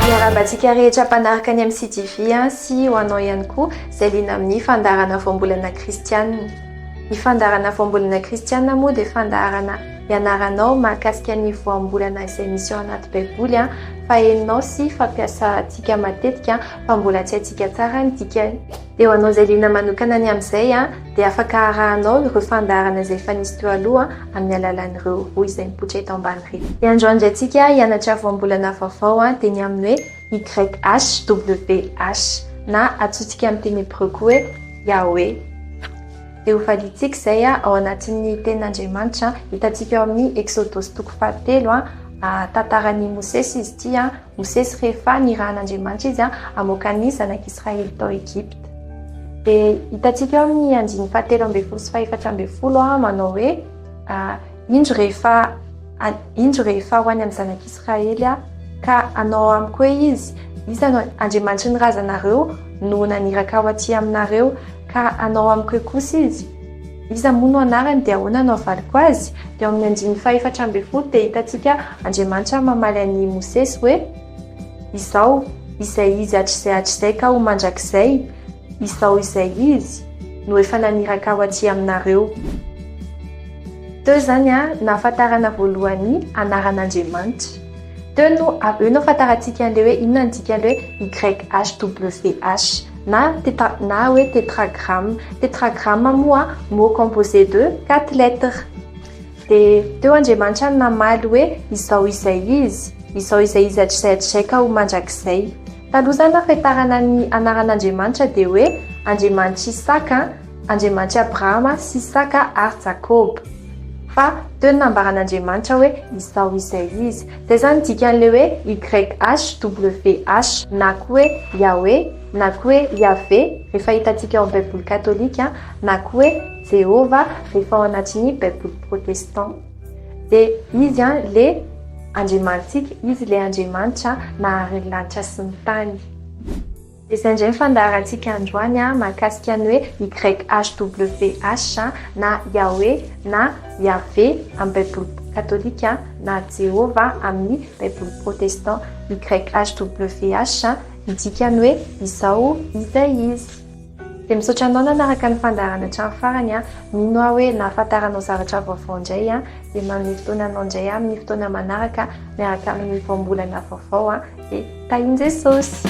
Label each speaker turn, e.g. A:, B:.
A: Miarahaba antsika rehetra mpanaraka ny MCTV sy ho anao ihany koa izay liana amin'ny fandaharana voambolana kristianina. Ny fandaharana voambolana kristianina moa dia fandaharana ianaranao mahakasika ny voambolana izay misy ao anaty baiboly fa henonao sy fampiasantsika matetika fa mbola tsy haintsika tsara ny dikany. Dia ho anao izay liana manokana ny amin'izay dia afaka arahanao ireo fandaharana izay efa nisy teo aloha amin'ny alalan'ireo rohy izay mipoitra eto ambany ireo. Dia androany indray tsika hianatra voambolana vaovao dia ny amin'ny hoe YHWH na antsointsika amin'ny teny hebreo koa hoe Yahweh. Dia ho valiantsika izay ao anatin'ny tenin'Andriamanitra hitantsika ao amin'ny Eksodosy toko fahatelo, tantaran'i Mosesy izy ity. Mosesy rehefa nirahan'Andriamanitra izy hamoaka ny zanak'i Israely tao Egypta. Dia hitantsika eo amin'ny andininy fahatelo ambin'ny folo sy fahefatra ambin'ny folo manao hoe indro rehefa indro rehefa ho any amin'ny zanak'i Israely ka anao amiko hoe izy iza no Andriamanitry ny razanareo no naniraka ho aty aminareo Ka anao amiko eo kosa izy. Iza moa no anarany dia ahoana no havaliko azy? Dia ao amin'ny andininy fahefatra ambin'ny folo dia hitantsika Andriamanitra mamaly an'i Mosesy hoe, Izao izay izy hatrizay hatrizay ka ho mandrakizay, izao izay izy no efa naniraka aho aty aminareo. Teo izany no ahafantarana voalohany ny anaran'Andriamanitra. Teo no avy eo no ahafantarantsika an'ilay hoe inona ny dikan'ilay hoe YHWH. na teta na hoe tetragramme. Tetragramme moa mot composé de quatre lettres. Dia teo Andriamanitra no namaly hoe izao izay izy, izao izay izy hatrizay hatrizay ka ho mandrakizay. Taloha izany raha fiatarana ny anaran'Andriamanitra dia hoe Andriamanitr'i Isaka, Andriamanitr'i Abrahama sy Isaka ary Jakoba. Fa teo ny nambaran'Andriamanitra hoe izao izay izy. Dia izany dikan'ilay hoe YHWH na koa hoe Yahweh na koa hoe Yaveh rehefa hitantsika ao amin'ny Baiboly katolika na koa hoe Jehovah rehefa ao anatin'ny Baiboly protestant. Dia Izy ilay Andriamanitsika, Izy ilay Andriamanitra nahary ny lanitra sy ny tany. Izay indray ny fandaharantsika androany mahakasika ny hoe YHWH na Yahweh na Yaveh amin'ny Baiboly Katolika na Jehovah amin'ny Baiboly Protestant. YHWH midika ny hoe Izao Izay Izy. Dia misaotra anao nanaraka ny fandaharana hatramin'ny farany. Mino aho hoe nahafantaranao zavatra vaovao indray. Dia manome fotoana anao indray amin'ny fotoana manaraka miaraka amin'ny Voambolana vaovao. Tahin'i Jesosy!